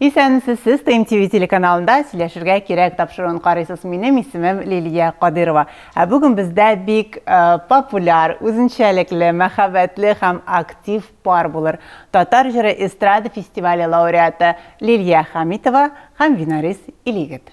Исәнмесез сез, ТМТВ телеканалында сөйләшергә кирәк тапшыруын карыйсыз. Минем исемем Лилия Кадырова. Ә бүген бездә бик э, популяр, үзенчәлекле, мәхәббәтле һәм актив пар булыр. Татар җыры эстрада фестивале лауреаты Лилия Хамитова һәм Винарис Илигет.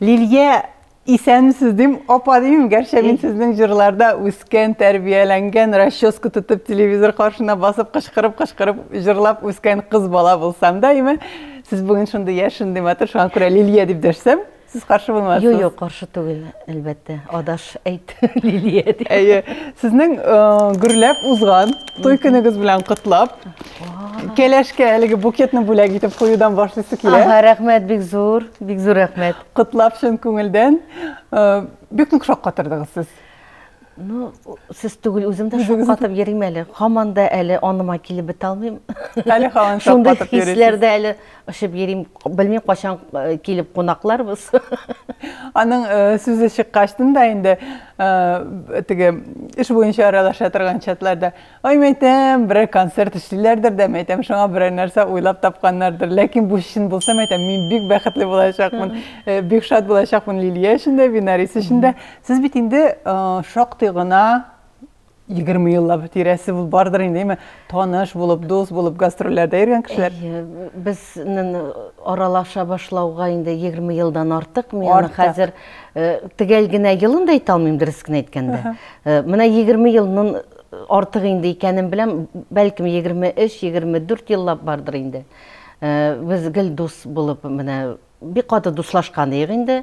Лилия, исәнмесез дим, апа дим, гәрчә мин сезнең җырларда үскән, тәрбияләнгән, расческа тотып телевизор каршына басып кычкырып-кычкырып җырлап үскән кыз бала булсам да, име, сез бүген шундый яшь, шундый матур, шуңа күрә Лилия дип дәшсәм, Сез каршы булмасыз? Юк, юк, каршы түгел, әлбәттә. Адаш әйт, Лилия. Әйе. Сезнең э, гөрләп узган той көнегез белән котлап, Кәләшкә әлеге букетны бүләк итеп куюдан башлыйсы килә. Ага, рәхмәт, бик зур, бик зур рәхмәт. Котлап чын күңелдән. Э, бик нык шаккатырдыгыз сез. Ну, сез түгел, үзем дә шаккатып йөрим әле. Хаман да әле аныма килеп бетә алмыйм. Әле хаман шаккатып йөрим. Шундый хисләрдә әле очып йөрим. Белмим качан э, килеп кунакларбыз. Аның э, сүзе чыккачтын да инде э, теге эш буенча аралаша торган чатларда Ай, мәйтәм, берәр концерт эшлиләрдер дә, мәйтәм, шуңа берәр нәрсә уйлап тапканнардыр. Ләкин бу чын булса, мәйтәм, мин бик бәхетле булачакмын, э, бик шат булачакмын Лилия өчен дә, Винарис өчен дә. Сез бит инде э, шактый гына 20 еллап тирәсе бул бардыр инде, әйме, таныш булып, дус булып, гастрольләрдә йөргән кешеләр. Әйе, безнен аралаша башлауга инде 20 елдан артык. Мин аны хәзер э, төгәл генә елын да әйтә алмыйм, дөрес кенә әйткәндә. Э, Менә 20 елның Артык инде икәнен беләм, бәлкем 23-24 еллап бардыр инде. Без гел дус булып менә бик каты дуслашкан идек инде.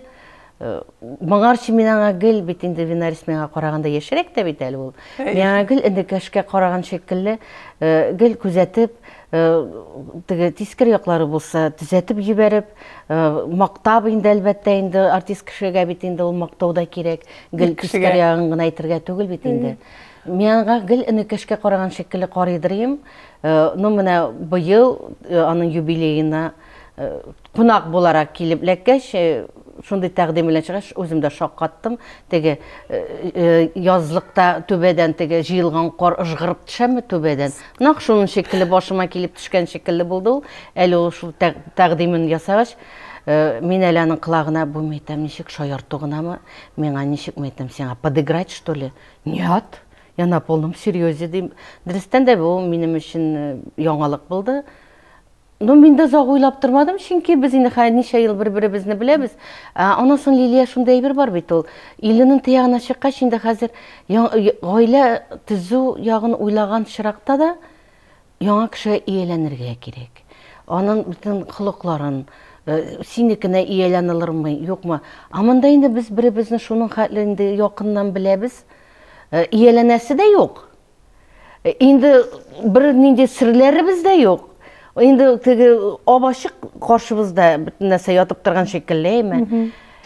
Моңарчы мин аңа гел бит инде Винарис миңа караганда яшьрәк тә бит әле ул. Мин аңа гел энекәшкә караган шикелле, гел күзәтеп, теге тискер яклары булса төзәтеп җибәреп, мактап инде әлбәттә инде, артист кешегә бит инде ул мактау да кирәк, гел тискер ягын гына әйтергә түгел бит инде. Мин аңа гел энекәшкә караган шикелле карыйдыр идем. Ну, менә быел аның юбилеена кунак буларак килеп эләккәч, шундый тәкъдим белән чыгач, үзем дә шаккаттым. Теге язлыкта түбәдән теге җыелган кар ыжгырып төшәме түбәдән, нәкъ шуның шикелле башыма килеп төшкән шикелле булды ул. Әле ул шул тәкъдимен ясагач, мин әле аның колагына, Бу мәйтәм ничек, шаярту гынамы? Миңа ничекме әйтәм сиңа, подыграть что ли? Нет, я на полном серьезе дим. Дөрестән дә бу минем өчен э, яңалык булды. Ну, мин дә озак уйлап тормадым, чөнки без инде хәзер ничә ел бер-беребезне беләбез. Аннан соң Лилия шундый әйбер бар бит ул. Иленең тыягына чыккач, инде хәзер гаилә төзү ягын уйлаган чиракта да Яңа кешегә ияләнергә кирәк. Анын бөтен холыкларын, синекенә ияләналырмы, юкмы. Ә монда инде без беребезне шуның хәтле инде якыннан беләбез, ияләнәсе дә юк. Инде бер нинди серләребез дә юк. Инде теге ап-ачык каршыбызда бөтен нәрсә ятып торган шикелле, әйме?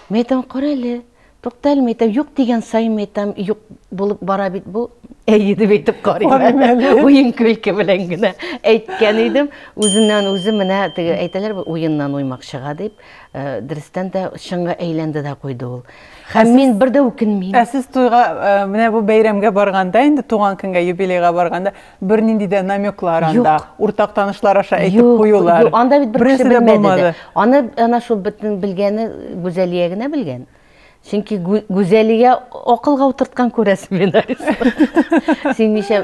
Мин әйтәм, карале, Тукталмый әйтәм, юк дигән саен әйтәм, юк булып бара бит бу. Әйе дип әйтеп карыйм. Уен көлке белән генә әйткән идем. Үзеннән үзе менә теге әйтәләр бит, уеннан уймак чыга дип, э, дөрестән дә чынга әйләнде дә куйды ул. Һәм мин бер дә үкенмим. Ә сез туйга э, менә бу бәйрәмгә барганда, инде туган көнгә, юбилейга барганда, Бернинди дә намеклар анда, уртак танышлар аша әйтеп куюлар. Юк, анда бит бер кеше белмәде дә. Аны әнә шул бөтен белгәне Гүзәлия генә белгән. Чөнки Гүзәлия акылга утырткан күрәсең мені. Син ничә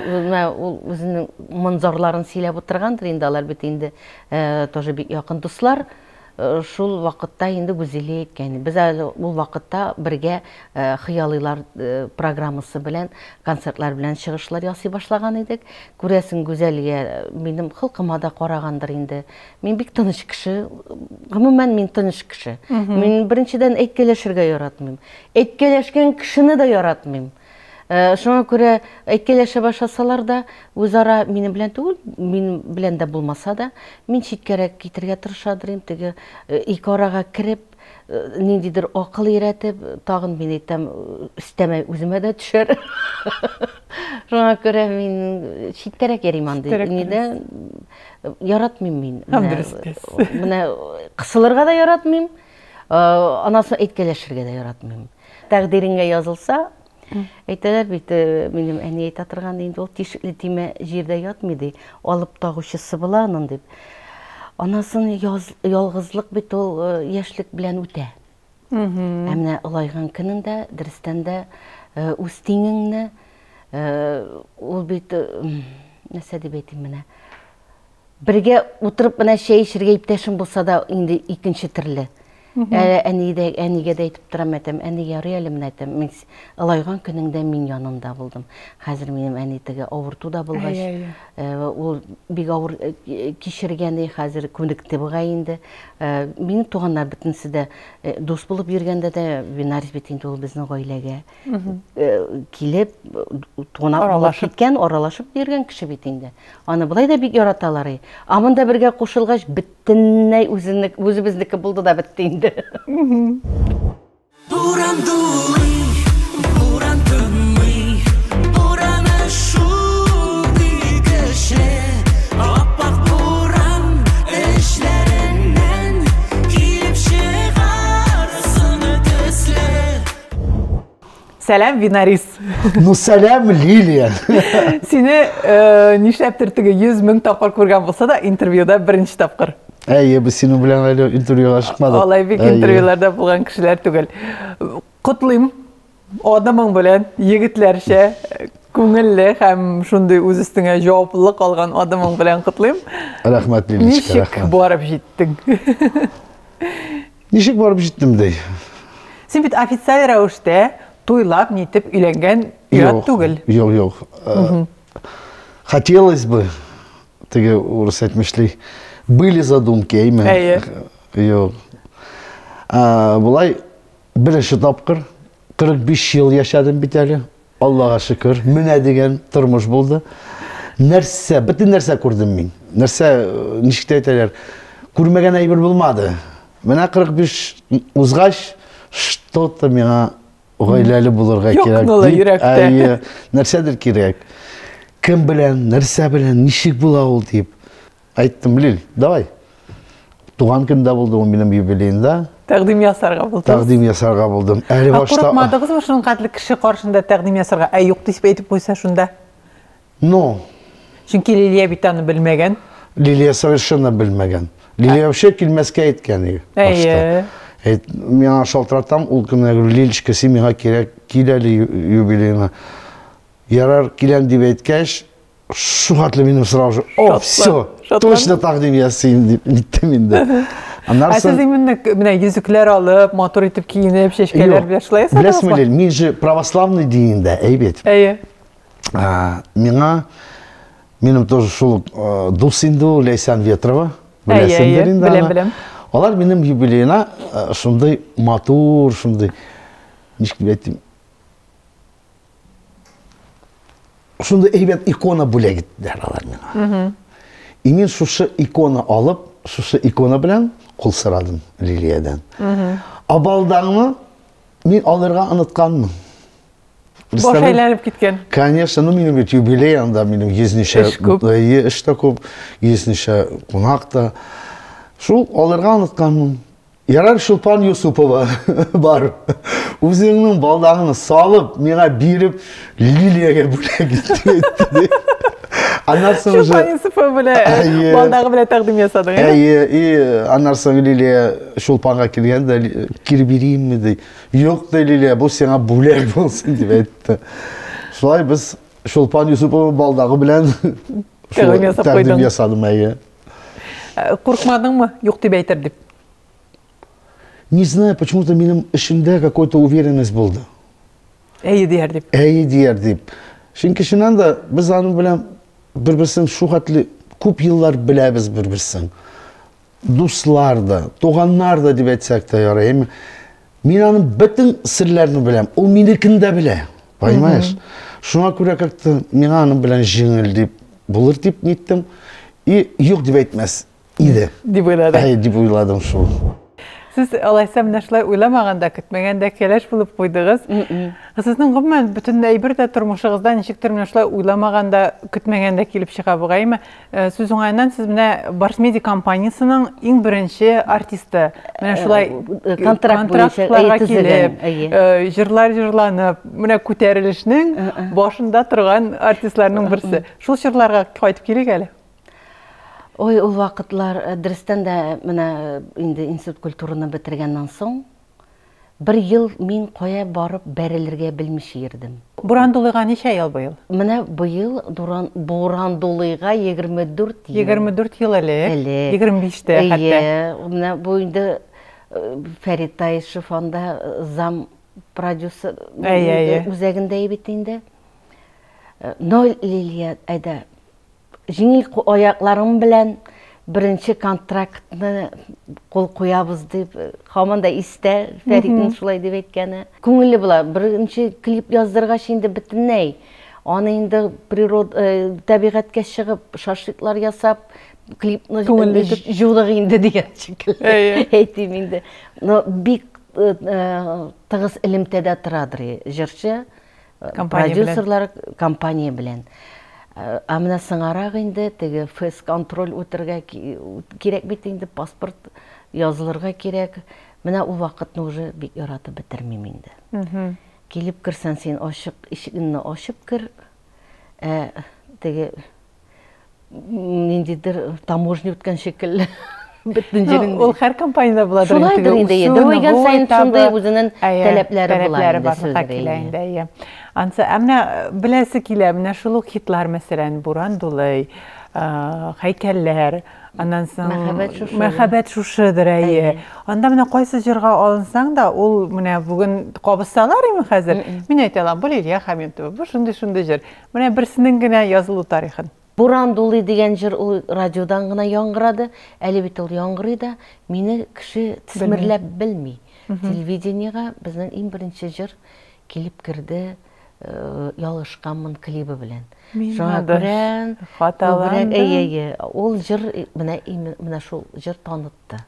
ул үзенең монзорларын сөйләп утыргандыр инде, алар бит инде тоже бик якын дуслар. Шул вакытта инде Гүзилия әйткән, без әле ул вакытта бергә Хыялыйлар программасы белән, концертлар белән чыгышлар ясый башлаган идек. Күрәсең, Гүзәлия минем холкыма да карагандыр инде. Мин бик тыныч кеше, гомумән мин тыныч кеше. Мин беренчедән әйткәләшергә яратмыйм. Әйткәләшкән кешене дә яратмыйм. Шуңа күрә әйткәләшә башласалар да, үзара минем белән түгел, минем белән дә булмаса да, мин читкәрәк китергә тырыша дырим, теге ике арага кереп, ниндидер акыл өйрәтеп, тагын мин әйтәм, өстәмә үземә дә төшәр. Шуңа күрә мин читкәрәк йөрим андый. Нидә яратмыйм мин. Менә кысылырга да яратмыйм, анасы әйткәләшергә дә яратмыйм. Тәкъдириңә язылса, әйтәләр бит, минем әни әйтә торган инде ул тишекле тимә җирдә ятмый ди, алып тагучысы була аның дип. Анасын ялгызлык бит ул яшьлек белән үтә. Ә менә олайган көнеңдә, дөрестән дә үз тиңеңне ул бит нәрсә дип әйтим менә, Бергә утырып менә чәй эчергә иптәшем булса да инде икенче төрле. Әле әни дә, әнигә дә әйтеп торам әтәм, әни ярый әле менә әтәм, мин ылайган көнеңдә мин янында булдым. Хәзер минем әни теге авырту да булгач, э, ул бик авыр э, кичергән и хәзер күнекте буга инде. Э, минем туганнар бөтенесе дә дус булып йөргәндә дә Винарис бит инде ул безнең гаиләгә. килеп туна аралашып киткән аралашып йөргән кеше бит инде аны болай да бик яраталар и а монда бергә кушылгач бөтенләй үзенек үзебезнеке булды да бетте инде буран дулый буран тынмый бураны шундый көчле аппак буран эчләреннән килеп чыгар сыны төсле Сәлам, Винарис. Ну, сәлам, Лилия. Сине э, нишләптер теге 100 мең тапкыр күргән булса да, интервьюда беренче тапкыр. Әйе, без синең белән әле интервьюга чыкмадык. Алай бик интервьюларда булган кешеләр түгел. Котлыйм адымың белән, егетләрчә күңелле һәм шундый үз өстеңә җаваплылык алган адымың белән котлыйм. Рәхмәт, Лилечка, рәхмәт. Ничек барып җиттең? Ничек барып җиттем ди? Син бит официаль рәвештә туйлап, нитеп өйләнгән ят түгел. Юк, юк. Э, хотелось бы, теге урыс әйтмешли, были задумки, әйме? Әйе. Юк. Болай, беренче тапкыр, 45 ел яшәдем бит әле. Аллага шөкер, менә дигән тормыш булды. Нәрсә, бөтен нәрсә күрдем мин. Нәрсә, ничек тә әйтәләр, күрмәгән әйбер булмады. Менә 45 узгач, что-то миңа гаиләле булырга кирәк. Юкнула йөрәктә. Әйе, нәрсәдер кирәк. Кем белән, нәрсә белән, ничек була ул дип. Әйттем, Лил, давай. Туган көндә булды ул минем юбилеенда. Тәкъдим ясарга булдым. Тәкъдим ясарга булдым. Әле башта Курыкмадыгызмы шуның кадәр кеше каршында тәкъдим ясарга? Ә юк дип әйтеп куйса шунда. Ну. Чөнки Лилия бит аны белмәгән. Лилия совершенно белмәгән. Лилия вообще килмәскә әйткән иде. Әйе. Әйт, миңа шалтыратам, ул көнне говорю, Лилечка, син миңа кирәк, кил әле юбилееңа. Ярар, киләм дип әйткәч, шугатлы минем сорау же о все точно тәкъдим ясыйм дип әйттем инде Аннары сез именно менә йөзекләр алып, матур итеп киенеп, чәчкәләр белән шулай ясадыңызмы? Беләсеңме, Лил, мин же православный динендә, әй бит. Әйе. Миңа минем тоже шул э, дус инде ул Ләйсән Ветрова. Беләсеңдер инде. Беләм, беләм. Алар минем юбилейна э, шундый матур, шундый ничек дип әйтим, Шунда әйбәт икона бүләк иттеләр алар миңа. И мин шушы икона алып, шушы икона белән кул сорадым Лилиядән. Абалдаңны мин алырга онытканмын. Баш әйләнеп киткән. Конечно, ну минем бит юбилей анда, минем йөзничә эш тә күп, йөзничә кунак та. Шул алырга онытканмын. Ярар, Чулпан Юсупова, бар. Үзеңнең балдагыңны салып, миңа биреп, Лилиягә бүләк итте. Аннан соң уже... Чулпан Юсупова белән э, балдагы белән тәкъдим ясадың, әйе? Әйе, и аннан соң Лилия Чулпанга килгән дә, кире биреймме ди. Юк ди, Лилия, бу сиңа бүләк булсын дип әйтте. Шулай без Чулпан Юсупова балдагы белән тәкъдим ясап куйдың. Тәкъдим ясадым, әйе. Куркмадыңмы, юк дип әйтер дип? Не знаю, почему-то минем эшемдә какой-то уверенность булды. Әйе дияр дип. Әйе дияр дип. Чөнки чыннан да без аның белән бер-берсен шу хәтле күп еллар беләбез бер-берсен. Дуслар да, туганнар да дип әйтсәк тә ярый. Мин аның бөтен серләрен беләм. Ул минекен дә белә. Понимаешь? Шуңа күрә как-то миңа аның белән җиңел дип булыр дип ниттем. И юк дип әйтмәс иде. Дип уйладым. Әй, дип уйладым шул. Сез алайса менә шулай уйламаганда, көтмәгәндә кәләш булып куйдыгыз. Сезнең гомумән бөтен әйбер дә тормышыгызда ничектер менә шулай уйламаганда, көтмәгәндә килеп чыга бугаймы? Э, сүз уңаеннан сез менә барсмеди компаниясенең иң беренче артисты менә шулай э, э, контракт контрактларга килеп җырлар җырланып менә күтәрелешнең башында торган артистларның берсе шул чорларга кайтып килик әле ой ул вакытлар дөрестән дә менә инде институт культураны бетергәннән соң Бер ел мин кая барып бәрелергә белмичә йөрдем. Бурандулыйга ничә ел быел? Менә быел Дуран, Бурандулыйга егерме дүрт ел. Егерме дүрт ел элек. Элек. Егерме биштә хәтта. Әйе. Менә бу инде Фәрит Таишев анда зам продюсер Әйе, әйе. үзәгендә бит инде. Но, Лилия, әйдә. Җиңел кул аякларым белән беренче контрактны кул куябыз дип, һаман да истә Фәритнең шулай дип әйткәне. Күңелле була. Беренче клип яздыргач инде бөтенләй аны инде природа, табигатькә чыгып, шашлыклар ясап, клипны җудык инде дигән шикелле әйтим инде. Но бик тыгыз элемтәдә торадыр җырчы. Продюсерлар компания белән. Ә менә соңарак инде теге фэсконтроль үтергә кирәк бит инде, паспорт язылырга кирәк. Менә ул вакытны уже бик яратып бетермим инде. Килеп керсәң, син ачык ишегеңне ачып кер, ә теге ниндидер таможня үткән шикелле бөтен җирен ул һәр компаниядә була шулайдыр инде дәва өйгән саен шундый үзенең таләпләре була инде ансы ә менә беләсе килә менә шул ук хитлар мәсәлән буран дулый һәйкәлләр аннан соң мәхәббәт шушыдыр әйе анда менә кайсы җырга алынсаң да ул менә бүген кабызсалар име хәзер мин әйтә алам бу лилия хәмитова бу шундый шундый җыр Менә берсенең генә язылу тарихын. Буран дулый дигән җыр ул радиодан гына яңгырады, әле бит ул яңгырый да, мине кеше тсмерләп белми. Телевидениегә безнең иң беренче җыр килеп керде Ялгышканмын клибы белән. Шуңа күрә күбрәк әйе, әйе, ул җыр менә менә шул җыр танытты.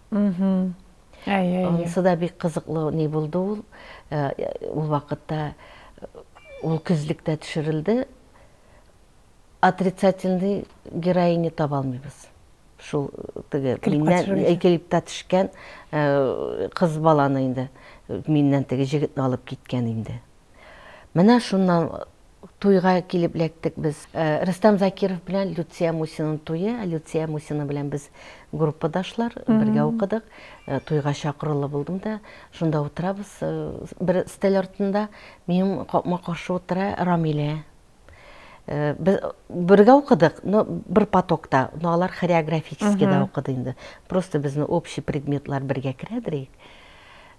Анысы да бик кызыклы ни булды ул. Ул вакытта ул көзлектә төшерелде. Отрицательный героиня таба алмыйбыз. Шул теге миннән клипта төшкән кыз баланы инде миннән теге җегетне алып киткән инде. Менә шуннан Туйга килеп эләктек без. Рөстәм Закиров белән Люция Мусинаның туе. Люция Мусина белән без группадашлар, бергә укыдык. Туйга чакырулы булдым да. Шунда утырабыз бер өстәл артында. Минем капма-каршы утыра Рамилә. Без бергә укыдык, но бер потокта. Но алар хореографическийда укыды инде. Просто безнең общий предметлар бергә керә, дерек.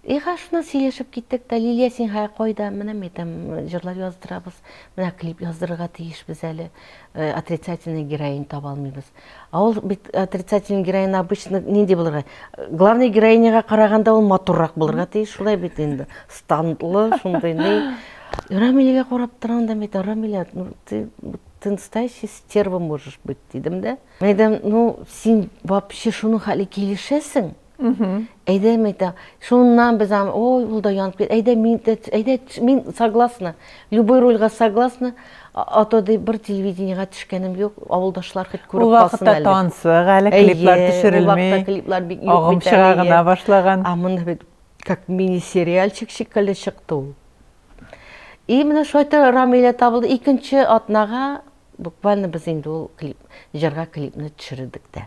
Иһә шуннан сөйләшеп киттек тә, Лилия син хәя кайда, менә ми там җырлар яздырабыз, менә клип яздырырга тиешбез әле, отрицательный героинь таба алмыйбыз. А ул бит отрицательный героинь обычно нинди булырга, главный героиняга караганда ул матуррак булырга тиеш, шулай бит инде, стантлы, шундый ни. Рамиләгә карап торам да, мин әйтәм, Рамилә, ну ты, ты настоящая стерва можешь быть, дидем дә. Мин әйтәм, ну син вообще шуның хәле килешәсең? Әйдә, мәйтә, шуннан без аны, ой, ул да янып кит, әйдә, мин дә, әйдә, мин согласна, любой рольга согласна, а то ди бер телевидениега төшкәнем юк, авылдашлар хоть күреп калсын әле. Ул вакытта тансык әле, клиплар төшерелми, агым чыга гына башлаган. А монда бит как мини-сериальчик шикелле чыкты ул. И менә шулай да Рамилә табылды, икенче атнага буквально без инде ул клип, җырга клипны төшердек тә.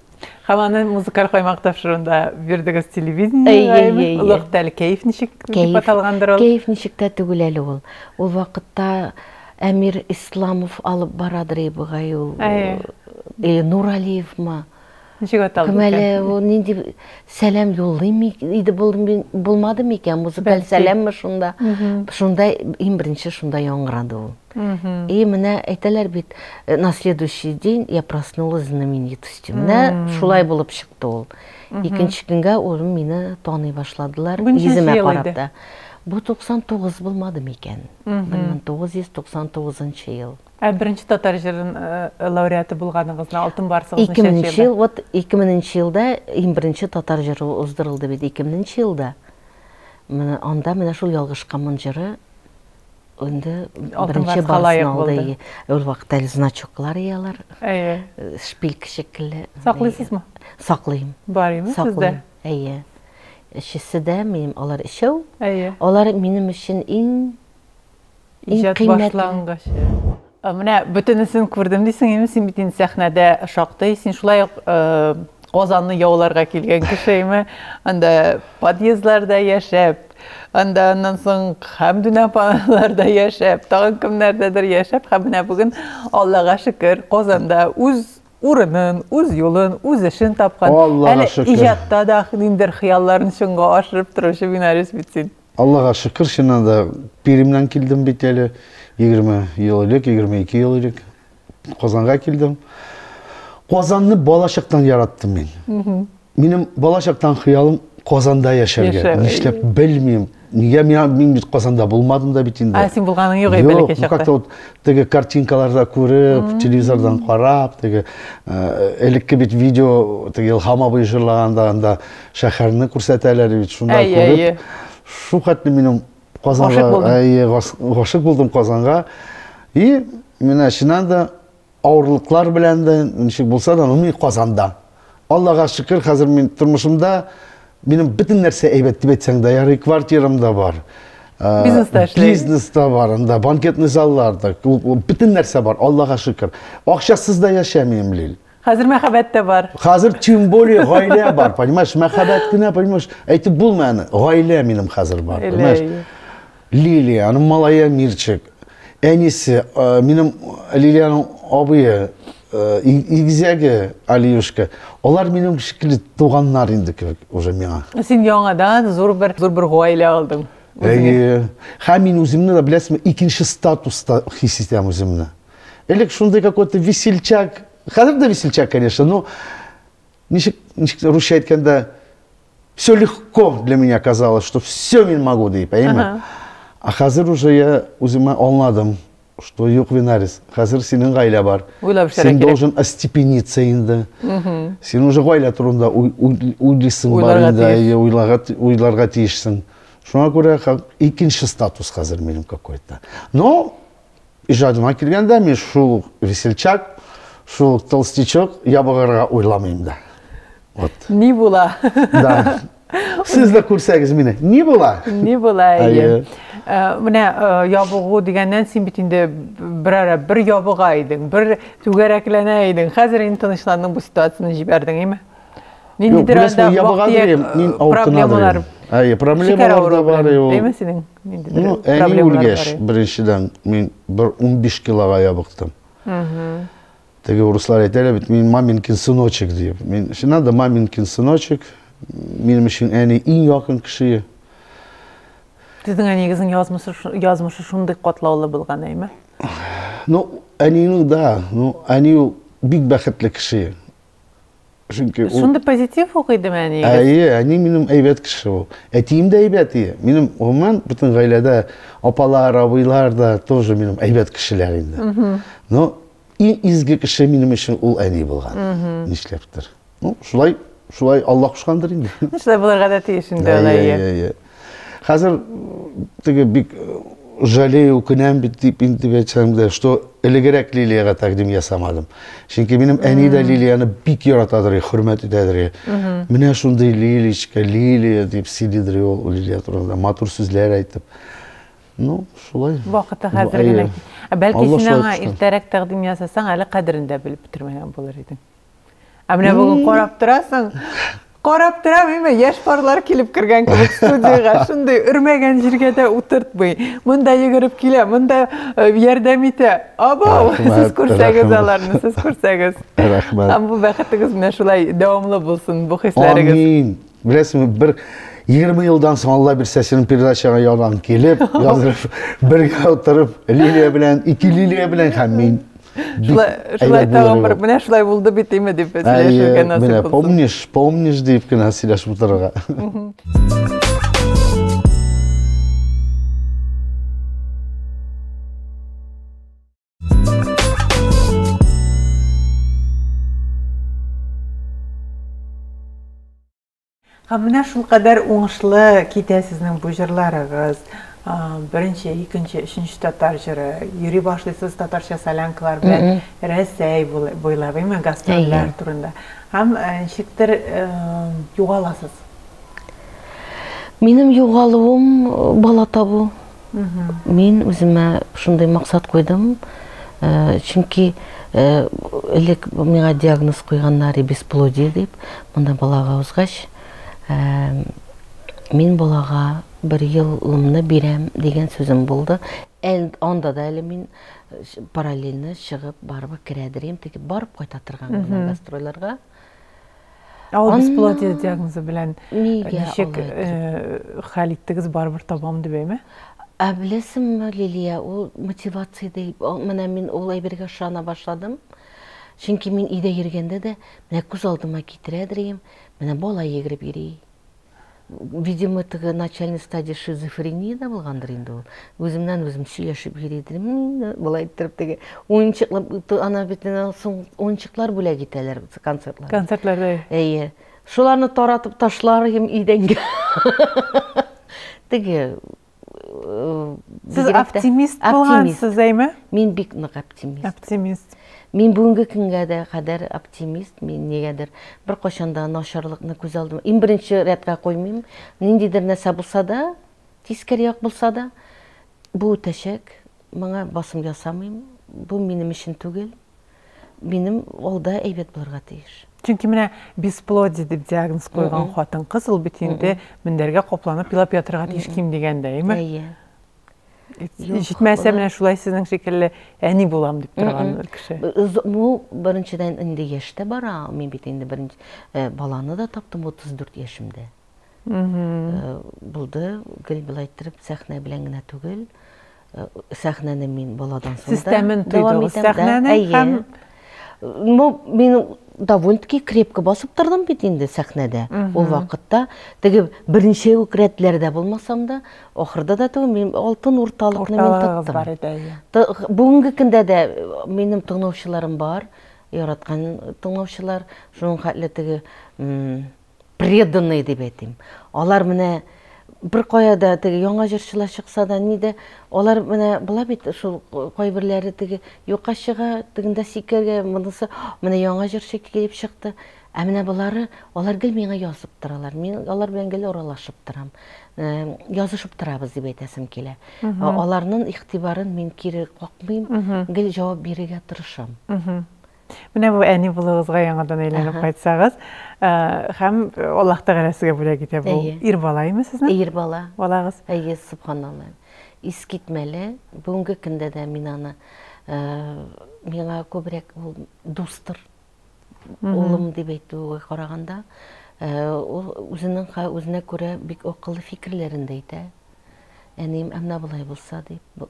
Һәм аны музыкаль каймак тапшыруында бирдегез телевидениега, олуг тәл кәеф ничек дип аталгандыр ул? Кәеф ничек тә түгел әле ул. Ул вакытта Әмир Исламов алып барадыр ебыгай ул. Или Нуралиевмы? Ничек аталды? Кем әле ул нинди сәлам юллыйм иде булмады микән? Музыкаль сәламме шунда? Шунда иң беренче шунда яңгырады ул. И менә әйтәләр бит, э, на следующий день я проснулась знаменитостью. Менә шулай булып чыкты ул. Икенче көнгә улым мине таный башладылар, йөземә карап та. Бу 99 булмады микән? 1999 ел. Ә беренче татар җырын э, лауреаты булганыгызны, алтын барсыгызны чәчәбез. 2000 ел, вот 2000 елда иң беренче татар җыры уздырылды бит 2000 елда. Менә анда менә шул ялгышкамын җыры Инде беренче барысын алды. Ул вакытта әле значоклар иде алар. Әйе. Шпилька шикелле. Саклыйсызмы? Саклыйм. Бар име сездә? Әйе. Өчесе дә минем, алар өчәү. Әйе. Алар минем өчен иң иң кыйммәтле. Менә бөтенесен күрдем дисең инде, син бит инде сәхнәдә шактый, син шулай ук Казанны яуларга килгән кешеме? Анда подъездларда яшәп, анда аннан соң Хәмдүн апаларда яшәп, тагын кемнәрдәдер яшәп, һәм менә бүген Аллага шөкер, Казанда үз урынын, үз юлын, үз эшен тапкан, әле иҗатта да ниндидер хыялларын чынга ашырып торучы Минарис бит син. Аллага шөкер, чыннан да биремнән килдем бит әле. 20 ел элек, 22 ел элек Казанга килдем. Казанны балачактан яраттым мин. Минем балачактан хыялым Казанда яшәргә. Яшәр. Нишләп белмим. Нигә мин, мин бит Казанда булмадым да бит инде. А син булганың юк әле бәләкәй чакта. Как-то вот теге картинкаларда күреп, телевизордан карап, теге элекке бит видео, теге Илһам абый җырлаганда анда Шәһәрне күрсәтәләр бит, шунда Әйе, күреп. әйе. Шулхәтле минем Казанга, Гашык булдың. әйе, гас- гашык булдым Казанга. И менә чыннан да авырлыклар белән дә ничек булса да, но мин Казанда. Аллага шөкер, хәзер мин тормышымда минем бөтен нәрсә әйбәт дип әйтсәң дә ярый, квартирам да бар. Ә, Бизнес та эшләй. Бизнес та бар, анда банкетный заллар да, күп- бөтен нәрсә бар, Аллага шөкер. Акчасыз да яшәмим, Лил. Хәзер мәхәббәт тә бар. Хәзер тем более гаилә бар, понимаешь? Мәхәббәт кенә, понимаешь? Әйтеп булмый аны. Гаилә минем хәзер бар, понимаешь? Лилия, аның малае Мирчик. Әнисе, э, минем Лилиянең абые, э, игезәге Алиюшка. Алар минем шикелле туганнар инде кебек уже миңа. Син яңадан зур бер зур бер гаилә алдың. Әйе. Һәм мин үземне дә беләсезме, икенче статуста хис итәм үземне. Элек шундый какой-то весельчак, хәзер дә весельчак, конечно, но ничек, ничек русча әйткәндә, все легко для меня казалось, что все мин могу дип, әйеме? Ага. А хәзер уже я үземә аңладым, что юк, Винарис, хәзер синең гаилә бар. Уйлап эшләргә Син кирәк. должен остепениться инде. Син уже гаилә турында уй- уй- уйлыйсың бар Уйларга инде, тиеш. әйе, уйларга, ти- уйларга тиешсең. Шуңа күрә ха- икенче статус хәзер минем какой-то. Но Иҗатыма килгәндә, мин шул ук весельчак, шул ук толстячок, ябыгырга уйламыйм да. Вот. Ни була? Да. Сез дә күрсәгез мине. Ни була? Ни була, әйе. Э, менә э, ябыгу дигәннән син бит инде берара бер ябыга идең, бер түгәрәкләнә идең. Хәзер инде тынычландың, бу ситуацияне җибәрдең, әйме? Мин Юк, беләсең, нидерәлдә ябыга вак диеп, дирем, мин э, авыртына проблемалар. дирем. Әйе, проблемалар Шикәр да авыруы бар, белән. ул. Әйме синең? Нинди бер Ну, әни проблемалар бар үлгәч, ул? беренчедән, мин бер 15 килога ябыктым. Теге урыслар әйтәләр бит, мин маминкин сыночек дип. Мин, чи надо маминкин сыночек. Минем өчен әни иң якын кеше. Сезнең әниегезнең язмышы, шу- язмышы шундый катлаулы булган, әйме? Ну, әнинең да, ну, әни ул бик бәхетле кеше. Чөнки ул Шундый позитив ук иде мәни. Әйе, әни минем әйбәт кеше ул. Әтием дә әйбәт иде. Минем гомумән бөтен гаиләдә апалар, абыйлар да тоже минем әйбәт кешеләр инде. Но иң изге кеше минем өчен ул әни булган. Нишләптер. Ну, шулай, шулай Алла кушкандыр инде. Шулай булырга да тиеш инде, әйе. Хәзер теге бик жалею, үкенәм бит дип инде әйтсәм дә, что элегрәк Лилиягә тәкъдим ясамадым. Чөнки минем әни дә Лилияны бик яратадыр, хөрмәт итәдер. Менә шундый Лиличка, Лилия дип сөйлидер ул Лилия турында, матур сүзләр әйтеп. Ну, шулай. Вакыты хәзер генә. Бәлки син аңа иртәрәк тәкъдим ясасаң, әле кадерен дә белеп бетермәгән булыр идең. Ә менә бүген карап торасың, карап торам, имә яшь парлар килеп кергән кебек студиягә, шундый өрмәгән җиргә дә утыртмый. Монда йөгереп килә, монда э, ярдәм итә. Абау, сез күрсәгез аларны, сез күрсәгез. Рәхмәт. Һәм бу бәхетегез менә шулай дәвамлы булсын, бу хисләрегез. Амин. Беләсеңме, бер 20 елдан соң Алла бирсә синең передачага ядан килеп, язып, бергә утырып, Лилия белән, ике Лилия белән һәм мин. Шулай, шулай тагын бер, менә шулай булды бит име дип сөйләшергә насыйп булсын. Помнишь, помнишь дип кенә сөйләшеп утырырга. Һәм менә шул кадәр уңышлы китә сезнең бу җырларыгыз. Беренче, икенче, өченче татар җыры. Йөри башлыйсыз татарча солянкалар белән Рәсәй буйлап, әйме, гастрольләр турында. Һәм ничектер югаласыз. Минем югалуым бала табу. Мин үземә шундый максат куйдым, э, чөнки э, элек миңа диагноз куйганнар бесплодие дип, монда балага узгач, э, мин балага бер елымны бирәм дигән сүзем булды. Анда да әле мин параллельно чыгып барып керәдер, теге барып кайта торган гастройларга. Ә ул бесплодие диагнозы белән ничек хәл иттегез, барыбер табам дип әйме? Ә беләсеңме, Лилия, ул мотивация ди. Менә мин ул әйбергә ышана башладым. Чөнки мин өйдә йөргәндә дә, менә күз алдыма китерә дирем, менә бала йөгереп йөри. Видимо, теге начальный стадия шизофренияда булгандыр инде ул. Үземнән үзем сөйләшеп йөри идем. Болай иттереп теге уенчыклар ана бит соң уенчыклар бүләк итәләр концертларда. Концертларда. Әйе. Шуларны таратып ташлар идем идәнгә. Теге Сез оптимист булгансыз, әйме? Мин бик нык оптимист. Оптимист. Мин бүгенге көнгә дә кадәр оптимист, мин нигәдер бер кайчан да начарлыкны күз алдым. Иң беренче рәткә куймыйм. Ниндидер нәрсә булса да, тискәр як булса да, бу үтәчәк. Моңа басым ясамыйм. Бу минем өчен түгел. минем алда әйбәт булырга тиеш. Чөнки менә бесплодие дип диагноз куйган хатын-кыз ул бит инде мендәргә капланып елап ятырга тиеш ким дигәндә, әйме? Әйе. Җитмәсә менә шулай сезнең шикелле әни булам дип торган кеше. Бу беренчедән инде яшь тә бара, мин бит инде беренче э, баланы да таптым 34 яшемдә. Э, булды, гел былай иттереп сәхнә белән генә түгел. сәхнәне мин баладан соң Сез тәмен тойдыгыз сәхнәне һәм ну мин довольно таки крепко басып тордым бит инде сәхнәдә ул вакытта теге берничә үк рәтләрдә булмасам да ахырда да түгел мин алтын урталыкны мин тоттым бүгенге көндә дә минем тыңлаучыларым бар яраткан тыңлаучылар шуның хәтле теге преданные дип әйтим. Алар менә бер кая да теге яңа җырчылар чыкса да, ни дә, алар менә була бит шул кайберләре теге юкка чыга, тегендә сикергә, монысы менә яңа җырчы килеп чыкты. Ә менә болары, алар гел миңа язып торалар. Мин алар белән гел аралашып торам. Э, язышып торабыз дип әйтәсем килә. Аларның игътибарын мин кире какмыйм, гел җавап бирергә тырышам. Менә бу әни булуыгызга яңадан әйләнеп Аһа. кайтсагыз, ә, һәм Аллаһ Тәгалә сезгә бүләк итә бу. Әйе. Ир бала име сезнең? Ир бала. Балагыз. Әйе, субханалла. Искитмәле. Бүгенге көндә дә мин аны ә, миңа күбрәк ул дустыр. Улым дип әйтүгә караганда, ә, ул үзенең ха- үзенә күрә бик акыллы фикерләрен дә әйтә. Әнием, ә менә болай булса дип. Бу-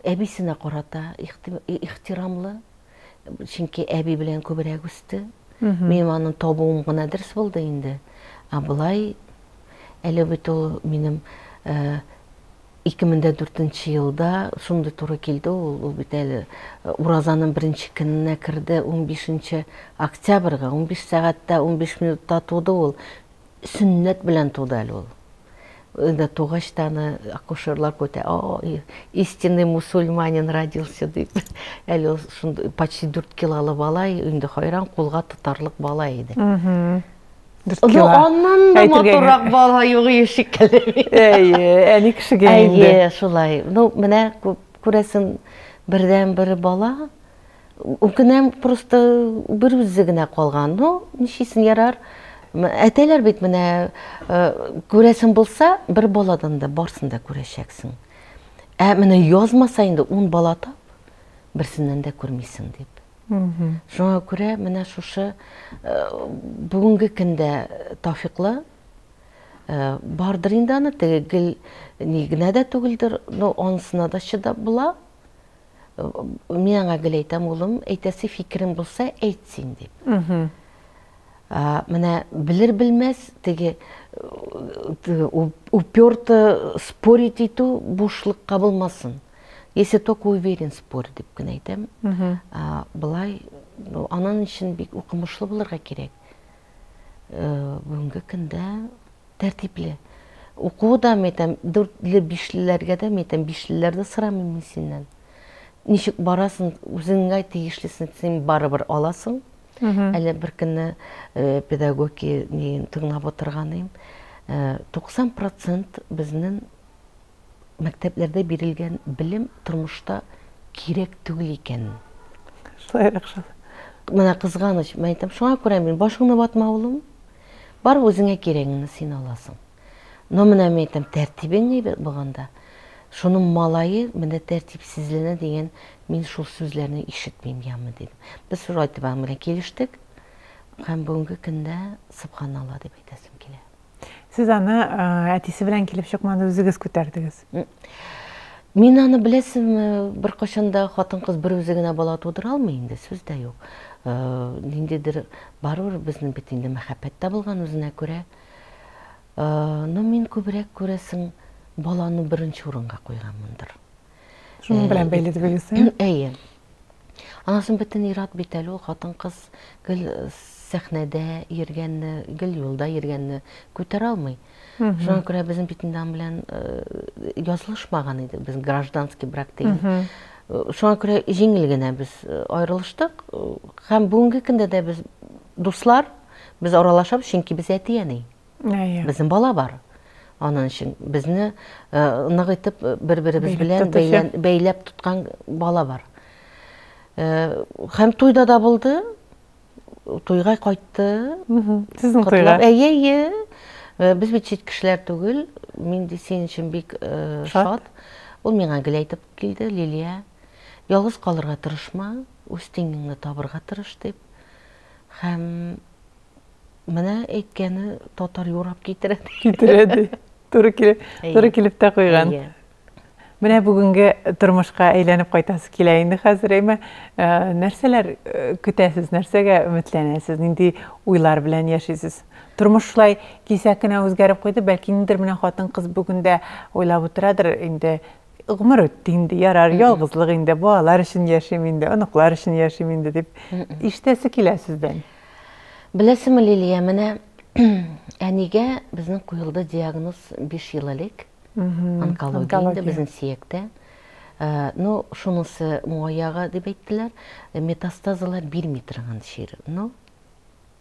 Әбисенә карата ихти- ихтирамлы, Чөнки әби белән күбрәк үсте. Минем аны табуым гына дөрес булды инде. Ә болай әле бит ул минем 2004 э, елда шундый туры килде ул, ул бит әле э, уразаның беренче көненә керде, 15 октябрьгә, 15 сәгатьтә 15 минутта туды ул. Сөннәт белән туды әле ул. Анда тугач та аны акушерлар көтә. О, истинный мусульманин родился дип. Әле ул шундый почти дүрт килолы бала, инде хайран кулга тотарлык бала иде. Дүрт кило. Аннан да матуррак бала юк ие шикелле. Әйе, әни кешегә инде. Әйе, шулай. Ну, менә күрәсең, бердәнбер бала. Үкенәм, просто бер үзе генә калган. Ну, ничисен ярар. Әтәләр бит менә күрәсен булса, бер баладан да барсын да күрәчәксең. Ә менә язмаса инде 10 бала тап, берсеннән дә күрмисең дип. Шуңа күрә менә шушы бүгенге көндә Тафиклы бардыр инде аны, теге гел ни генә дә түгелдер, но анысына да чыдап була. Мин аңа гел әйтәм, улым, әйтәсе фикерең булса, әйт син, дип. Менә белер-белмәс теге уперто спорить итү бушлыкка булмасын. Если только уверен, спорь, дип кенә әйтәм. Былай, анан өчен бик укымышлы булырга кирәк. бүгенге көндә тәртипле. Укуы да, мен әйтәм, дүртле, бишлеләргә дә, мен әйтәм, бишлеләрдә сорамыйм мин синнән. Ничек барасың, үзеңә тиешлесен син барыбер аласың. Әле бер көнне э, педагоги тыңлап отырганым, 90% э, безнең мәктәпләрдә бирелгән белем тормышта кирәк түгел икән. Шулайрак шул. Менә кызганыч, мен әйтәм, шуңа күрә мин башыңны ватма, улым. Бар үзеңә кирәгеңне син аласың. Но менә мин әйтәм, тәртибең әйбәт булганда, шуның малае менә тәртипсезләнә дигән мин шул сүзләрне ишетмим яме дидем. Без шул айтып аның белән килештек. Һәм бүгенге көндә, субханалла дип әйтәсем килә. Сез аны әтисе белән килеп чыкмады, үзегез күтәрдегез. Мин аны беләсезме, беркайчан да хатын-кыз бер үзе генә бала тудыра алмый инде, сүз дә юк. Э, ниндидер барыбер безнең бит инде мәхәббәт тә булган үзенә күрә. Э, но мин күбрәк күрәсең баланы беренче урынга куйганмындыр. Шуның белән бәйле дип уйлыйсың? Әйе. Анасын бөтен ират бит әле ул хатын-кыз гел сәхнәдә йөргәнне, гел юлда йөргәнне күтәрә алмый. Шуңа күрә безнең бит инде белән язылышмаган иде, без гражданский брак дигән. Шуңа күрә җиңел генә без аерылыштык һәм бүгенге көндә дә без дуслар, без аралашабыз, чөнки без әти-әни. Безнең бала бар. Анын өчен безне нык итеп бер-беребез белән бәйләп тоткан бала бар. Хәм туйда да булды. Туйга кайтты. Сезнең туйга? Әйе, әйе. Без бит чит кешеләр түгел. Мин ди синең өчен бик шат. Ул миңа гел әйтеп килде, Лилия, ялгыз калырга тырышма, үз тиңеңне табырга тырыш дип. Хәм Менә әйткәне татар юрап китерә. Китерә ди. Туры килеп, туры килеп тә куйган. Менә бүгенге тормышка әйләнеп кайтасы килә инде хәзер, әйме, э, нәрсәләр э, көтәсез, нәрсәгә өметләнәсез, нинди уйлар белән яшисез? Тормыш шулай кисә кенә үзгәреп куйды, бәлки ниндер менә хатын кыз бүген дә уйлап утырадыр инде, гомер үтте инде, ярар, ялгызлык инде, балалар өчен яшим инде, оныклар өчен яшим инде дип ишетәсе килә сездән. Беләсеңме, Лилия, менә әнигә безнең куелды диагноз биш ел элек. Онкология инде безнең сөяктә. Э, ну, шунысы моягы дип әйттеләр, метастазалар бирми торган чир. Ну,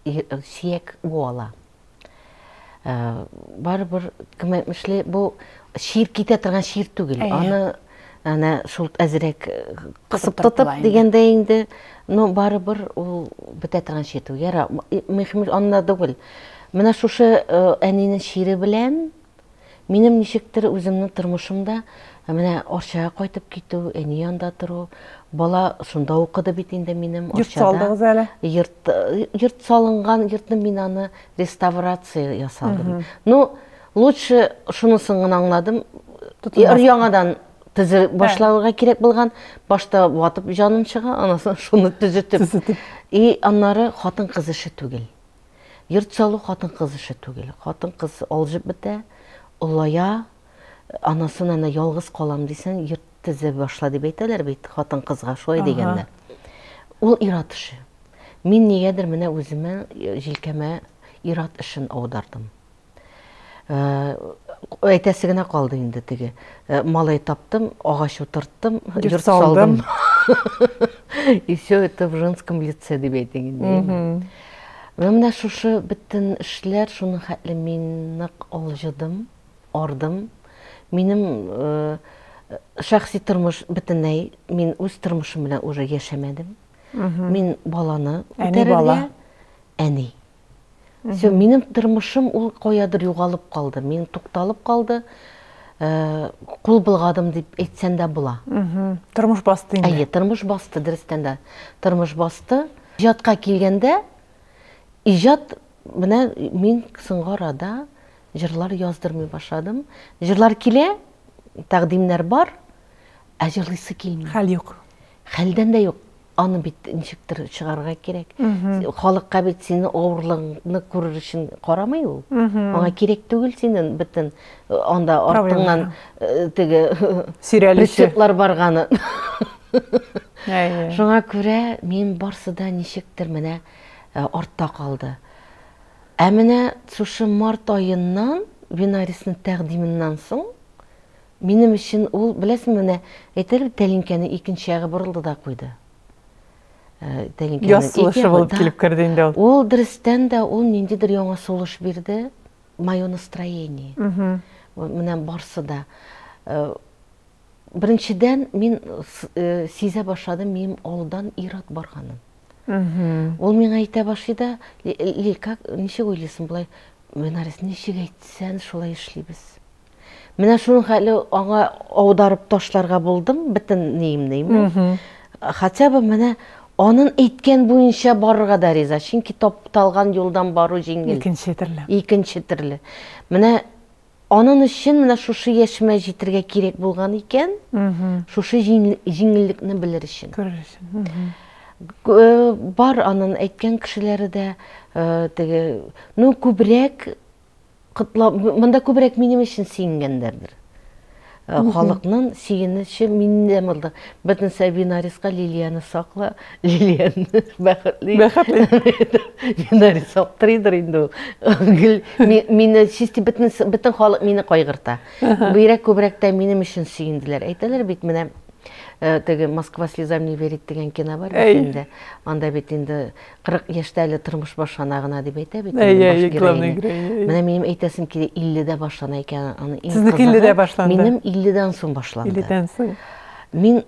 э, сөяк буала. Барыбер, кем әйтмешли, бу чир китә торган чир түгел. Аны әнә шул әзрәк кысып тотып дигәндә инде, ну барыбер ул бетә торган чир түгел. Яра, мөһим аннан түгел. Менә шушы әнинең чире белән Минем ничектер үземнең тормышымда менә Арчага кайтып китү, әни янда тору, бала шунда укыды бит инде минем Йорт Арчада. салдыгыз әле. Йорт, йорт салынган, йортны мин аны реставрация ясадым. Ну, лучше шунысын гына аңладым, өр-яңадан төзе башларга кирәк булган, башта ватып җаным чыга, аннан соң шуны төзетеп. И аннары хатын-кыз эше түгел. Йорт салу хатын-кыз эше түгел. Хатын-кыз алҗып бетә, олая, анасын әнә ялгыз калам дисен, йорт төзеп башла дип әйтәләр бит хатын-кызга, шулай дигәннәр. Ул ир-ат эше. Мин нигәдер менә үземә, җилкәмә ир-ат эшен аудардым. Әйтәсе генә калды инде теге. Малай таптым, агач утырттым, йорт салдым. И все это в женском лице дип әйтең инде. Вә менә шушы бөтен эшләр шуның хәтле мин нык алҗыдым, ардым. Минем э, шәхси тормыш бөтенләй мин үз тормышым белән уже яшәмәдем. Мин баланы күтәрергә, әни. Все, минем тормышым ул каядыр югалып калды. Мин тукталып калды. Э, кул булгадым дип әйтсәм дә була. Тормыш басты инде. Әйе, тормыш басты, дөрестән дә. Тормыш басты. Иҗатка килгәндә, иҗат менә мин соңгы арада җырлар яздырмый башладым. Җырлар килә, тәкъдимнәр бар, ә җырлыйсы килми. Хәл юк. Хәлдән дә юк. Аны бит ничектер чыгарырга кирәк. Халыкка бит сине авырлыгыңны күрер өчен карамый ул. Аңа кирәк түгел синен бөтен э, анда артыңнан э, теге сөйрәлүче барганы. Шуңа күрә мин барсы да ничектер менә э, артта калды. Ә менә шушы март аеннан Винарисның тәкъдименнән соң Минем өчен ул, беләсеңме, менә әйтәләр бит, тәлинкәнең икенче ягы борылды да куйды. Яз сулышы булып килеп керде инде ул. Ул дөрестән дә ул ниндидер яңа сулыш бирде. Мое настроение. Менә барсы да. Беренчедән, мин сизә башладым, минем алдан ир-ат барганын. Ул миңа әйтә башлый да, Лиль, как, ничек уйлыйсың болай, Мөнәрис, ничек әйтсән, шулай эшлибез. Менә шуның хәле аңа аударып ташларга булдым, бөтен ниемне имне. Хотя бы менә анын әйткән буенча барырга да риза, чөнки тапталган юлдан бару җиңел. Икенче төрле. Икенче төрле. Менә анын өчен менә шушы яшемә җитергә кирәк булган икән, шушы җиңеллекне белер өчен. Күрер өчен. Бар анын әйткән кешеләре дә теге, ну күбрәк котлап, монда күбрәк минем өчен сөенгәннәрдер. Э, халыкның сөенече миндә булды. Бөтен Сабинарисга Лилияны сакла, Лилияны бәхетле. Бәхетле. Бинарис аптырыйдыр инде ул. Гел мине чисти бөтен бөтен халык мине кайгырта. Бирәк күбрәк тә минем өчен сөенделәр. Әйтәләр бит менә Э, теге москва слезам не верит деген кино бар бит инде анда бит инде 40 яшьтә әле тормыш башлана гына дип әйтә бит инде баш героиня. Менә минем әйтәсем килә, 50 дә башлана икән аны. Сезнеке 50 дә башланды. Минем 50 дан соң башланды. 50 дан соң. Мин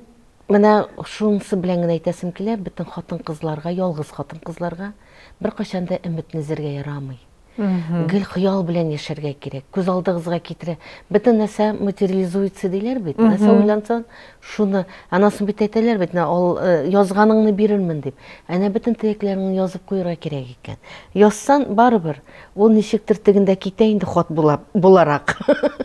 менә шунысы белән генә әйтәсем килә, бөтен хатын-кызларга, ялгыз хатын-кызларга беркайчан да өметне өзәргә ярамый. Гел хыял белән яшәргә кирәк. Күз алдыгызга китерә. Бөтен нәрсә материализуется диләр бит. Нәрсә уйлансаң, шуны. Анасын бит әйтәләр бит, ал, э, язганыңны бирермен дип. Әнә бөтен теләкләреңне язып куярга кирәк икән. Язсан, барыбер, ул ничектер тегендә китә инде хат була, буларак.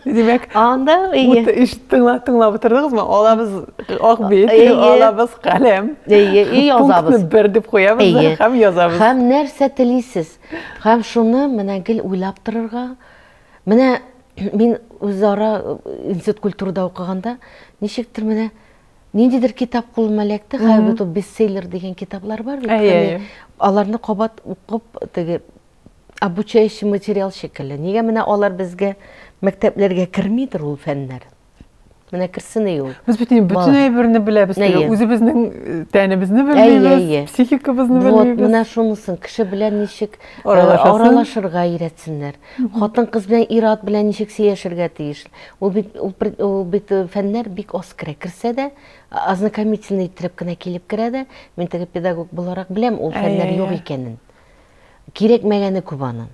Димәк, анда ут ишеттеңме, тыңлап утырдыгызмы? Алабыз ак бит, алабыз каләм. Әйе, и язабыз. Бер дип куябыз һәм язабыз. Һәм нәрсә телисез? Һәм шуны менә гел уйлап торырга, менә мин үзара институт культурада укыганда, ничектер менә ниндидер китап кулыма эләкте, хәер бит ул бестселлер дигән китаплар бар бит, әйе, аларны кабат укып, теге обучающий материал шикелле, нигә менә алар безгә мәктәпләргә кермидер ул фәннәр? Менә керсен ул. Без бит инде бөтен әйберне беләбез. Үзебезнең э, тәнебезне беләбез, психикабызны беләбез. Вот, менә шунысын кеше белән ничек э, аралашырга өйрәтсеннәр. Хатын-кыз белән ир-ат белән ничек сөйләшергә тиеш. Ул бит ул бит э, фәннәр бик аз керә. Керсә дә ознакомительный итеп кенә килеп керә дә, мин теге педагог буларак беләм, ул фәннәр юк икәнен. Кирәкмәгәне күп аның.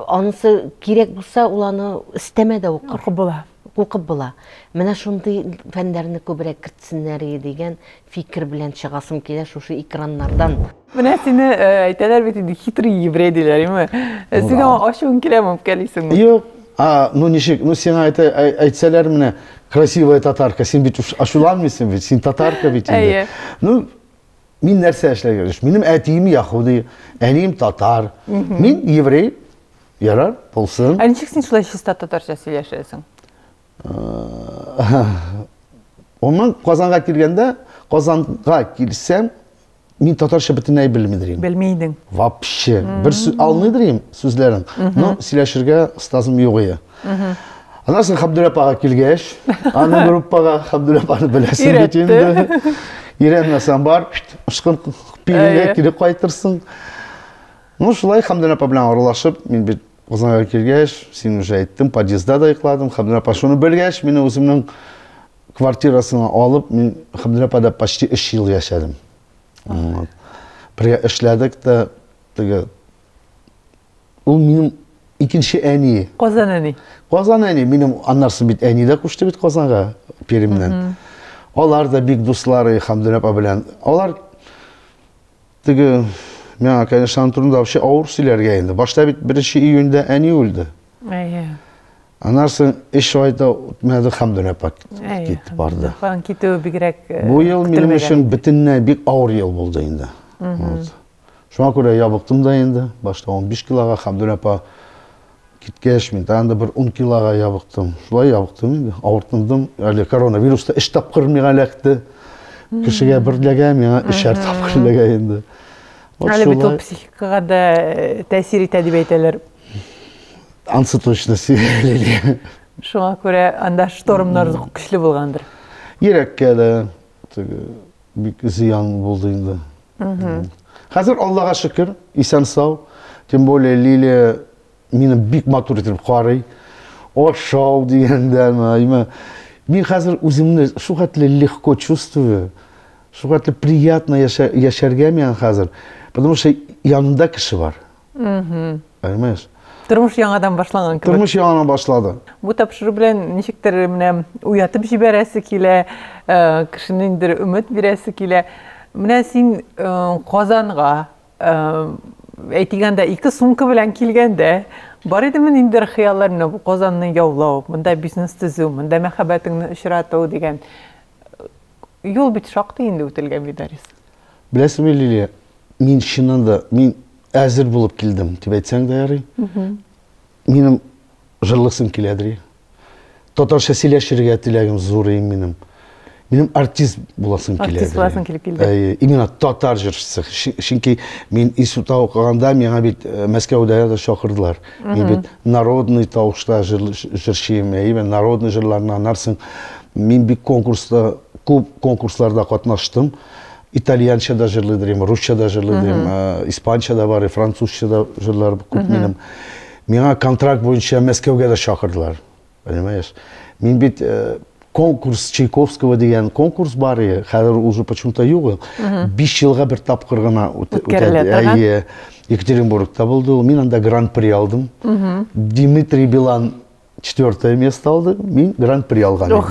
Анысы кирәк булса, ул аны өстәмә дә укыр. Укып була. Укып була. Менә шундый фәннәрне күбрәк кертсеннәр иде дигән фикер белән чыгасым килә шушы экраннардан. Менә сине әйтәләр бит инде хитрый еврей диләр, име? Сиңа ачуың киләме, үпкәлисеңме? Юк. А, ну ничек, ну сиңа әйтә, әйтсәләр менә красивая татарка, син бит ачуланмыйсың бит, син татарка бит инде. Ну, Мин нәрсә эшләргә тиеш? Минем әтием яһуди, әнием татар. Мин еврей. Ярар, булсын. Ә ничек син шулай чиста татарча сөйләшәсең? Оннан Казанга килгәндә, Казанга килсәм, мин татарча бөтенләй белмидер идем. Белми идең. Вообще. Бер алмыйдыр идем сүзләрен. Но сөйләшергә остазым юк иде. Аннан соң Хабдүр апага килгәч, аның группага Хабдүр апаны беләсең бит инде. Өйрәнмәсәң бар, ышкын пилгә кире кайтырсың. Ну, шулай Хабдүр апа белән аралашып, мин бит Казанга килгәч, син уже әйттем, подъездда да йокладым. Хабдүр апа шуны белгәч, мине үземнең квартирасына алып, мин Хабдүр апада почти 3 ел яшәдем. Бергә эшләдек тә, теге Ул минем икенче әни. Казан әни. Казан әни. Минем аннарсы бит әни дә күчте бит Казанга Перемнән. Алар да бик дуслары Хамдүн апа белән. Алар теге миңа, конечно, аның турында вообще авыр сөйләргә инде. Башта бит 1 июньдә әни үлде. Әйе. Аннарсы эш айда үтмәде Хамдүн апа китте барды. Аның китүе бигрәк э, Бу ел минем өчен бөтенләй бик авыр ел булды инде. Вот. Шуңа күрә ябыктым да инде. Башта 15 килога, Хәмдүр апа киткәч, мин тагын да бер 10 килога ябыктым. Шулай ябыктым инде. Авыртындым. Әле коронавируста өч тапкыр миңа эләкте. Кешегә бер эләгә, миңа өчәр тапкыр эләгә инде. Вот Әле бит ул шулай. психикага да э, тәэсир итә дип әйтәләр. Ансы точно сөйләли. Шуңа күрә анда штормнар көчле булгандыр. Йөрәккә дә, теге бик зыян булды инде хәзер аллага шөкер исән сау тем более лилия мине бик матур итеп карый ашау дигәндәме мин хәзер үземне шул хәтле легко чувствую шул хәтле приятно яшәргә миңа хәзер потому что янымда кеше бар Понимаешь? Тормыш яңадан башланган кебек. Тормыш яңадан башлады. Бу тапшыру белән ничектер менә уятып җибәрәсе килә, э, кешене инде өмет бирәсе килә. Менә син э, Казанга әйтгәндә ике сумка белән килгәндә Бар идеме инде хыяллар менә бу Казанны яулау, монда бизнес төзү, монда мәхәббәтеңне очрату дигән юл бит шактый инде үтелгән бит, Арис. Беләсеңме, Лилия, мин чыннан да, мин әзер булып килдем, дип әйтсәң дә ярый. Минем жырлысым килә, ди. Татарча сөйләшергә теләгем зур иде минем. Минем артист буласым килә. Артист буласым килеп килде. Әйе, именно татар җырчысы. Чөнки мин институтта укыганда миңа бит э, Мәскәүдә дә чакырдылар. Мин бит народный тавышта җырчыйм, әйе, народный җырларны анарсың. Мин бик конкурста, күп конкурсларда катнаштым. итальянча да җырлый дим, русча да җырлый дим, испанча да бар, французча да җырлар күп минем. Миңа контракт буенча Мәскәүгә дә чакырдылар. Понимаешь? Мин бит э, конкурс Чайковского дигән конкурс бар иде. Хәзер уже почему-то юк. 5 елга бер тапкыр гына үтәде. Екатеринбургта булды. Мин анда гран-при алдым. Дмитрий Билан четвертое место алды, мин гран-при алган идем.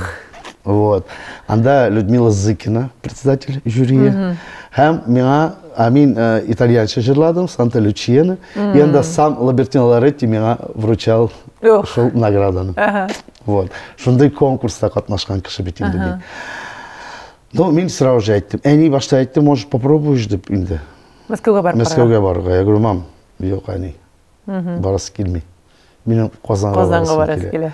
Вот. Анда Людмила Зыкина, председатель жюрия. Һәм миңа, а мин э, итальянча җырладым, Санта Лючияны. И анда сам Лабертино Лоретти миңа вручал Ох. шул награданы. Ага. Вот. Шундый конкурста катнашкан кеше бит инде мин. Ну, мин сразу же әйттем. Әни башта әйтте, может, попробуешь дип инде. Мәскәүгә барып. Мәскәүгә барырга. Я говорю, мам, юк, әни. Барасы килми. Минем Казанга, Казанга барасы килә.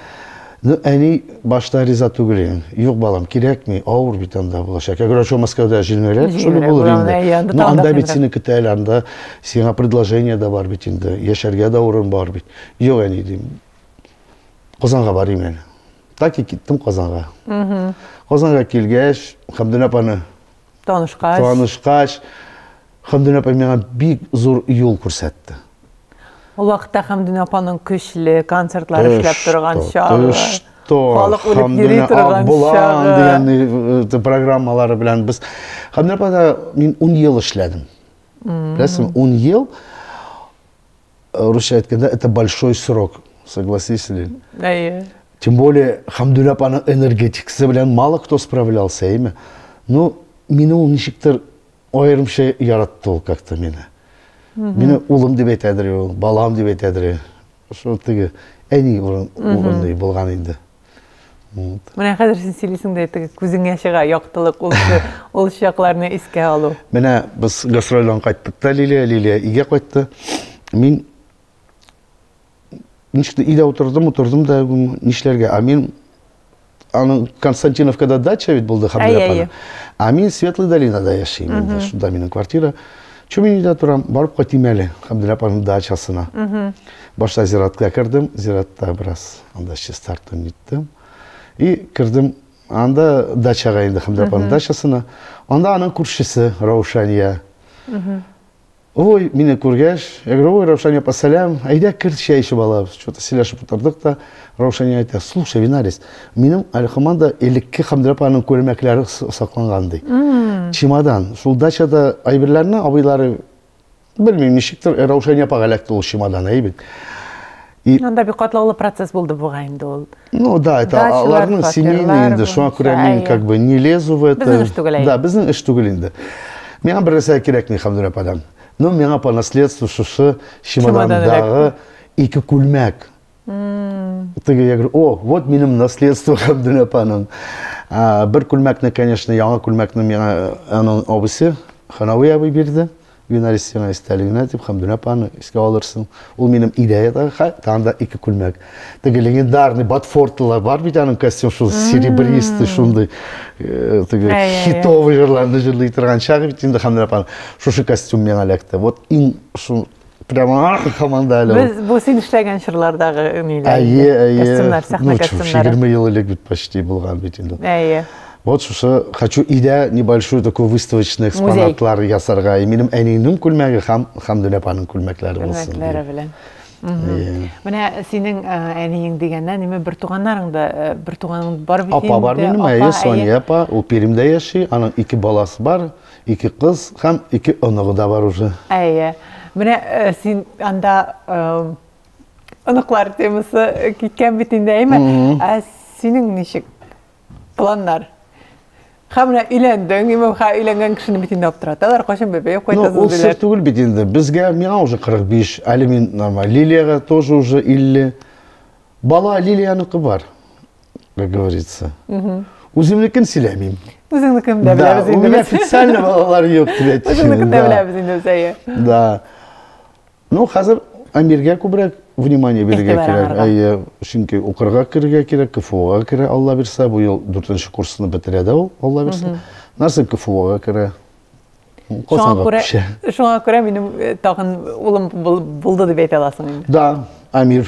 Ну, әни башта риза түгел инде. Юк, балам, кирәкми, авыр бит анда булачак. Я говорю, а что Москвада җиңелрәк? Шул булыр инде. Ну, анда бит сине көтә әле, анда сиңа предложение да бар бит инде. Яшәргә дә урын бар бит. Юк, әни, дим. Казанга барыйм әле. Так и киттем Казанга. Казанга килгәч, Хәмдүнә апаны Танышкач. Танышкач, Хамдүн апа миңа бик зур юл күрсәтте. Ул вакытта Хамдүн апаның көчле концертлар эшләп торган чагы. Халык үлеп йөри торган чагы. дигән э, э, программалары белән без Хамдүн апада мин 10 ел эшләдем. Беләсең, 10 ел Русча әйткәндә, это большой срок. Согласись ли? Әйе. Тем более, Хамдүлә апаның энергетикасы белән мало кто справлялся, әйме? Ну, мине ул ничектер аерымча яратты ул как-то мине. Мине улым дип әйтәдер ул, балам дип әйтәдер. Шул теге әни урын, урынлы булган инде. Вот. Менә хәзер син сөйлисең дә теге күзеңә чыга яктылык ул ул чакларны искә алу. Менә без гастрольдән кайттык та Лилия, Лилия өйгә кайтты. Мин ничек өйдә утырдым, утырдым да нишләргә? А мин аның Константиновкада дача бит булды Хәмдия апаның. А мин Светлый долинада яшим инде, шунда минем квартира. Чүп мин өйдә торам, барып кайтыйм әле Габделя апаның дачасына. Башта зиратка кердем, зиратта бераз анда чистарттым, ниттем. И кердем анда дачага инде Габделя апаның дачасына. Анда аның күршесе Раушания. Ой, мине күргәч, я говорю, ой, Раушания апа, сәлам, әйдә кер чәй эчеп алабыз. Что-то сөйләшеп утырдык та, Раушания әйтә, Слушай, Винарис, минем алехоманда элекке Хәмдүр апаның күлмәкләре сакланган, ди. Чемодан. Шул дачада әйберләрне абыйлары, белмим, ничектер, Раушания апага эләкте ул чемодан, әйе бит. И... Анда бик катлаулы процесс булды бугай инде ул. Ну да, это аларның семейный инде, шуңа күрә мин как бы не лезу в это. Безнең эш түгел инде. Да, безнең эш түгел инде. Миңа бер нәрсә кирәкми Хәмдүр ападан. Ну, миңа по наследству шушы чемодандагы ике күлмәк. Теге я говорю, о, вот минем наследство Габдул апаның. Бер күлмәкне, конечно, яңа күлмәкне миңа э, аның абысы Ханави абый бирде. Винарис сиңа истәлегенә дип Хамдүн апаны искә алырсың. Ул минем идеядагы хат, там да ике күлмәк. Теге легендарный Батфортлар бар бит аның костюм шул серебристый шундый э, теге хитовый жырларны җырлый торган чагы бит инде Хамдүн апаны. Шушы костюм миңа эләкте. Вот иң шул Прямо команда әле. Без бу син эшләгән чорлардагы ниләр? Әйе, әйе. Костюмнар, сәхнә костюмнары. 20 ел элек бит почти булган бит инде. Әйе. Вот шушы хочу идә небольшую такой выставочный экспонатлар ясарга. И минем әниемнең күлмәге һәм һәм Дөнәпаның күлмәкләре булсын. Күлмәкләре белән. Менә синең әниең дигәннән, ниме бер туганнарың да, бер туганың бар бит инде. Апа бар минем, әйе, Соня апа, ул Пермьдә яши, аның ике баласы бар. Ике кыз һәм ике оныгы да бар уже. Әйе. Менә син анда оныклар темасы киткән бит инде, әйме? Ә синең ничек планнар? Һәм менә өйләндең, имамга өйләнгән кешене бит инде аптыраталар, кайчан бәбәй кайтасыз ну, диләр. Ул түгел бит инде. Безгә миңа уже 45, әле мин нормаль. Лилиягә тоже уже 50. Бала Лилияныкы бар. как говорится. Үземнекен сөйләмим. Үзеңнекен дә Да, у меня официально балалар юк дип әйтте. Үзеңнекен дә беләбез инде Зәя. Да. Ну, хәзер Амиргә күбрәк внимание бирергә кирәк. Әйе, чөнки укырга керергә кирәк, КФУга керә, Алла бирсә, бу ел 4 курсны бетерә дә ул, Алла бирсә. Насып КФУга керә. Шуңа күрә, шуңа күрә минем тагын улым булды дип әйтә аласың инде. Да, Амир.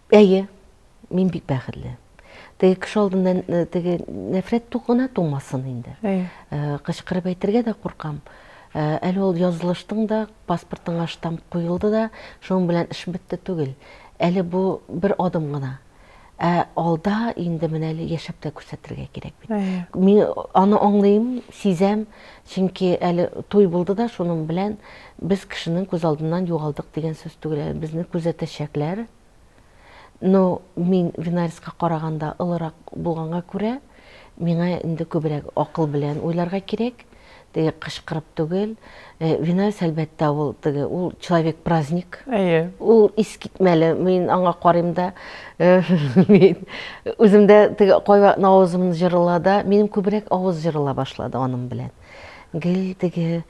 Әйе, мин бик бәхетле. Теге кеше алдында э, теге нәфрәт тугына тумасын инде. Әйе. Э, кычкырып әйтергә дә куркам. Э, әле ул язылыштың да, паспортыңа штамп куелды да, шуның белән эш бетте түгел. Әле бу бер адым гына. Ә алда инде менә әле яшәп тә күрсәтергә кирәк бит. Мин аны аңлыйм, сизәм, Чөнки әле туй булды да шуның белән без кешенең күз алдыннан югалдык дигән сүз түгел әле, безне күзәтәчәкләр. Но мин Винарьска караганда олырак булганга күрә, миңа инде күбрәк акыл белән уйларга кирәк, теге кычкырып түгел. Винарьс, әлбәттә, ул теге, ул человек-праздник. Әйе. Ул искитмәле, мин аңа карыйм да. Мин үземдә теге кайвакыт авызым җырыла да, минем күбрәк авыз җырыла башлады аның белән. Гел теге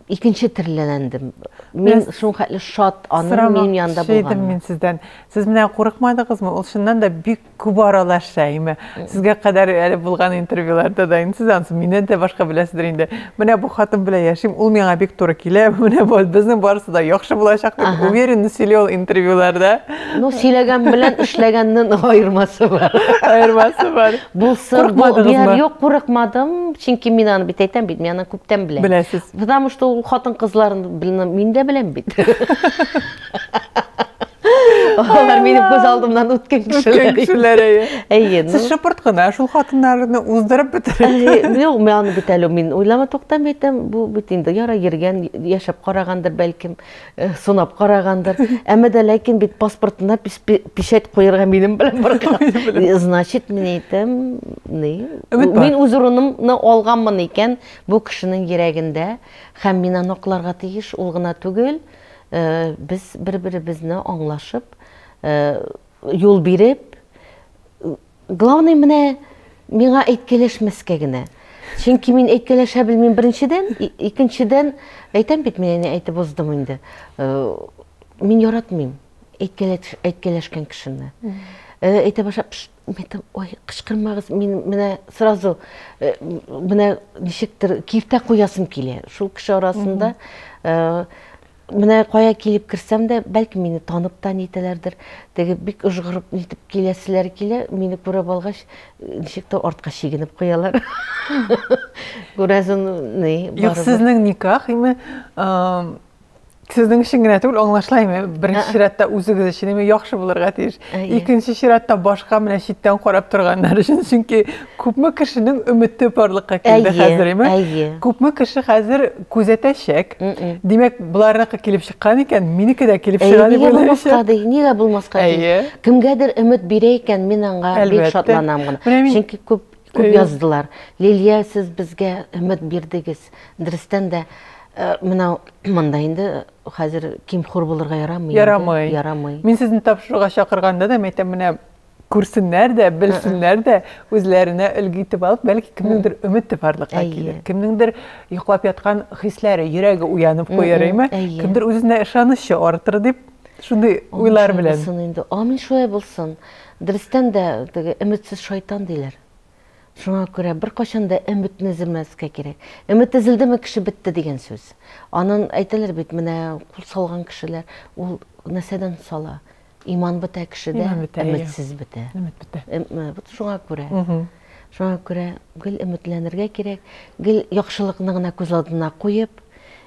икенче терләнәндем. Мин шуның хәтле шат аның минем янында булган. Шәйдем мин сездән. Сез менә курыкмадыгызмы? Ул чыннан да бик күп аралаша име? Сезгә кадәр әле булган интервьюларда да инде сез ансы миннән дә башка беләсездер инде. Менә бу хатын белән яшим, ул миңа бик туры килә. Менә бу безнең барысы да яхшы булачак дип уверенность сөйли ул интервьюларда. Ну, сөйләгән белән эшләгәннең аермасы бар. Аермасы бар. Булсын, бу бер юк курыкмадым, чөнки мин аны бит әйтәм бит, мин аны күптән беләм. Беләсез. Потому что ул хатын-кызларын мин дә беләм бит. Алар минем күз алдымнан үткен кешеләр. Үткен кешеләр, әйе. Әйе. Ну. Сез шыпырт кына шул хатыннарны уздырып бетерәсез. Юк, мин аны бит әле мин уйлама туктам әйтәм, бу бит инде яра йөргән, яшәп карагандыр бәлкем, э, сунап карагандыр. Әмма дә ләкин бит паспортына печать куярга минем белән барган. Э, значит, мин әйтәм, ни? Мин үз урынымны алганмын икән бу кешенең йөрәгендә һәм мин аны акларга тиеш, ул гына түгел. Без бер-беребезне аңлашып, юл биреп, главный менә миңа әйткәләшмәскә генә. Чөнки мин әйткәләшә белмим беренчедән, икенчедән, әйтәм бит, мин әни әйтеп уздым инде. Мин яратмыйм әйткәләшкән кешене. Әйтә башлап, Мин әйтәм, ой, кычкырмагыз, мин менә сразу э, менә ничектер киртә куясым килә. Шул кеше арасында э, менә кая килеп керсәм дә, бәлки мине танып та нитәләрдер. Теге бик ожгырып нитеп киләселәр килә, мине күреп алгач, э, ничек тә артка чигенеп куялар. Күрәсең, ни, Юк, барыбер. сезнең никах име? Ам, Сезнең өчен генә түгел, аңлашыла инде. Беренче чиратта үзегез өчен инде яхшы булырга тиеш. Икенче чиратта башка менә читтән карап торганнар өчен, чөнки күпме кешенең өмете барлыкка килде хәзер, әйме? Күпме кеше хәзер күзәтәчәк. Димәк, буларныкы килеп чыккан икән, минеке дә килеп чыга дип уйлыйм. Әйе, булмаска ди, нигә булмаска ди? Кемгәдер өмет бирә икән, мин аңа бик шатланам гына. Чөнки күп Күп яздылар. Лилия, сез безгә өмет бирдегез. Дөрестән дә, менә монда инде хәзер ким-хур булырга ярамый. Ярамый. Ярамый. Мин сезне тапшыруга чакырганда да, мин әйтәм, менә күрсеннәр дә, белсеннәр дә, үзләренә өлге итеп алып, бәлки кемнеңдер өмете барлыкка килер. Кемнеңдер йоклап яткан хисләре, йөрәге уянып куяр, әйме? Кемдер үзенә ышанычы артыр дип, шундый уйлар белән. Амин шулай булсын инде. Амин шулай булсын. Дөрестән дә, теге өметсез шайтан диләр. Шуңа күрә беркайчан да өметне өзелмәскә кирәк. Өмет өзелдеме, кеше бетте дигән сүз. Анын әйтәләр бит, менә кул салган кешеләр, ул нәрсәдән сала? Иман бетә кешедә, өметсез бетә. Вот шуңа күрә. Шуңа күрә гел өметләнергә кирәк, гел яхшылыкны гына күз алдына куеп,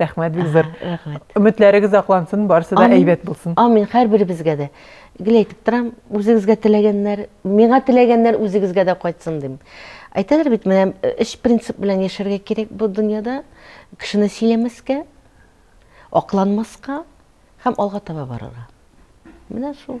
Рәхмәт, бик зур. Рәхмәт. Өметләрегез аклансын, барысы да әйбәт булсын. Амин, һәрберебезгә дә. Гел әйтеп торам, үзегезгә теләгәннәр, миңа теләгәннәр үзегезгә дә кайтсын дим. Әйтәләр бит, менә өч э, принцип белән яшәргә кирәк бу дөньяда. Кешене сөйләмәскә, акланмаска һәм алга таба барырга. Менә шул.